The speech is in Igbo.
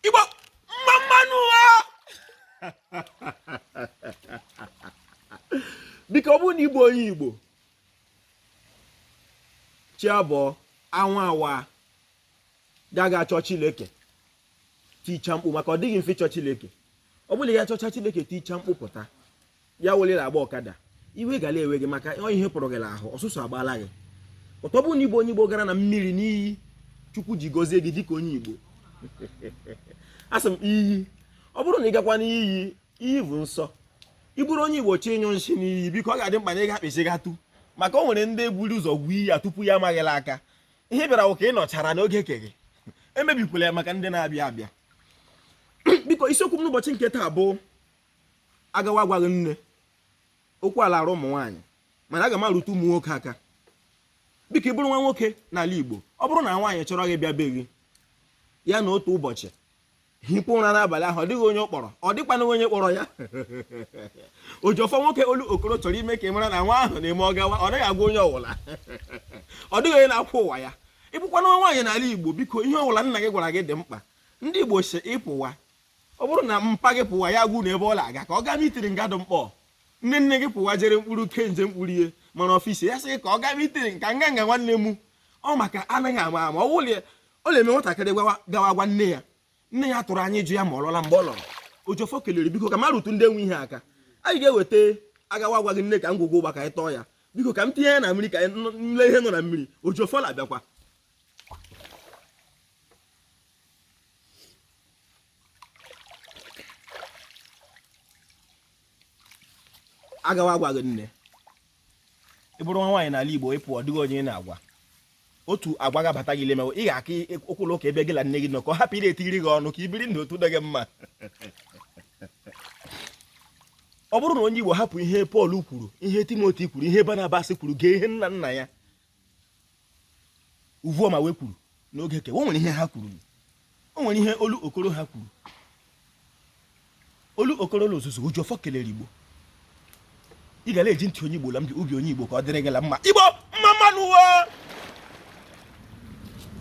igbo mma mmanụ ụwa biko ọ bụrụ na ị bụ onye igbo chi abọọ anwụ awa gaga achọ chileke ticha mkpu maka ọ dịghị mfe ịchọ chileke ọ bụrụ ya chọcha chileke ticha mkpu pụta ya welere agba ọkada iwe gara ewe gị maka ihe pụrụ gị n'ahụ ọsụsụ agbala gị ụtọ bụ na ị bụ onye igbo gara na mmiri n'iyi chukwu ji gọzie gị dịka onye igbo asị m iyi ọ bụrụ na ị gakwa n'iyi iyi bụ nsọ ị bụrụ onye igbo chọ ịnyụ nshi n'iyi biko ọ ga-adị mkpa na ị ga-akpịsị gatụ maka o nwere ndị buru ụzọ gwuo iyi ya tupu ya amaghịla aka ihe ị bịara wụ ka ị nọchara n'oge ke gị emebikwala ya maka ndị na-abịa abịa biko isiokwu m n'ụbọchị nke taa bụ agawa agwaghị nne okwu a la-arụ ụmụ nwaanyị mana aga m arụtụ ụmụ nwoke aka biko ị bụrụ nwa nwoke n'ala Igbo ọ bụrụ na nwaanyị chọrọ gị bịa be gị ya nọọ otu ụbọchị hipụ ụra n'abalị ahụ ọ dịghị onye ọ kpọrọ ọ dịkwana onye kpọrọ ya oji ọfọ nwoke Olokoro chọrọ ime ka ị mara na nwa ahụ na-eme ọ gawa ọ naghị agwa onye ọwụla ọ dịghị onye na-akwụ ụwa ya ị bụkwana nwa nwaanyị n'ala Igbo biko ihe ọwụla nna gị gwara gị dị mkpa ndị Igbo sị ịpụwa ọ bụrụ na mpa gị pụwa ya gwa unu ebe ọ na-aga ka ọ gaa mitiri ngadụ mkpọ nne nne gị pụwa jere mkpụrụ ke nje mkpụrụ ihe mana ọfisi ya sị gị ka ọ gaa mitiri nka nga nga nwanne m ọ maka anaghị ama ama ọ wụlị ọ na-eme nwatakịrị gawa gwa nne ya nne ya tụrụ anya ya jụ ya ma ọ lọla mgbe ọ lọrọ oji ọfọ kelere biko ka m arụtụ ndị nwe ihe aka anyị ga-eweta agawa agwaghị nne ka ngwugwu ụgba ka anyị tọọ ya biko ka m tinye ya na mmiri ka anyị nụ- nle ihe nọ na mmiri oji ọfọ na-abịakwa agawa agwaghị nne ị bụrụ nwa nwaanyị n'ala Igbo ị pụ ọ dịghị onye ị na-agwa otu agwa ga-abata gị lemewe ị ga-aka ụkwụlụ ụka ebe gị na nne gị nọ ka ọ hapụ ị na-etiri gị ọnụ ka i biri ndụ otu dị gị mma ọ bụrụ na onye Igbo hapụ ihe Pọl kwuru ihe Timoti kwuru ihe Banabas kwuru gee ihe nna nna ya Uvuoma wee kwuru n'oge ke wo o nwere ihe ha kwuru o nwere ihe Olokoro ha kwuru Olokoro na ozuzu oji ọfọ kelere igbo ị ga na-eji ntị onye igbo la m gị obi onye igbo ka ọ dịrị gị la mma igbo mma mmanụ wo